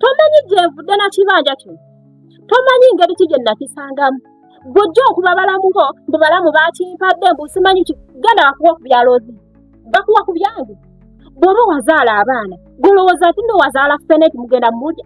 tomanyi gyevudde na kibanja kino tomanyi ngeri ki gye nakisangamu bwojja okuba balamu bo mbu balamu bakimpadde mbu simanyi ki genda bakuwa ku byalozi bakuwa ku byange bw'oba wazaala abaana golowooza ati nowazaala feneti mugenda mumulya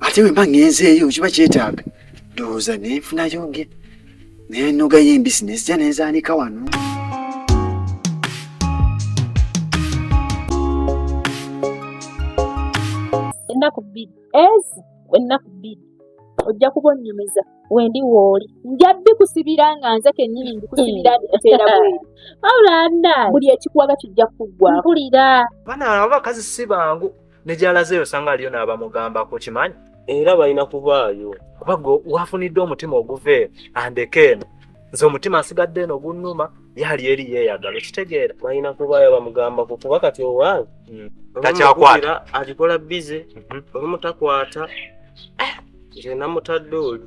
ate bwe mba ngenzeeyo kiba kyetaaga ndowooza nenfunayo nge nenogayo embisi nezija nenzaanika wano ennaku bbiri ezi ennaku bbiri ojja kuba onnyumiza wendi wooli nja bikusibira nga nze kennyini mbikusibira biteera bweru wabula nda buli ekikuwaga kijja kuggwa mpulira bana abakazi si bangu ne gy'alazeeyo osanga aliyo n'abamugambako kimanyi era balina kubaayo kuba gwe wafunidde omutima oguva eyo andeka eno nze omutima nsigadde eno gunnuma yali eri yeeyagala okitegeera balina kubaayo bamugambako kuba kati owange hmm. takyakwata agikola bize mhm. olumu takwata eh, nze namutadde oli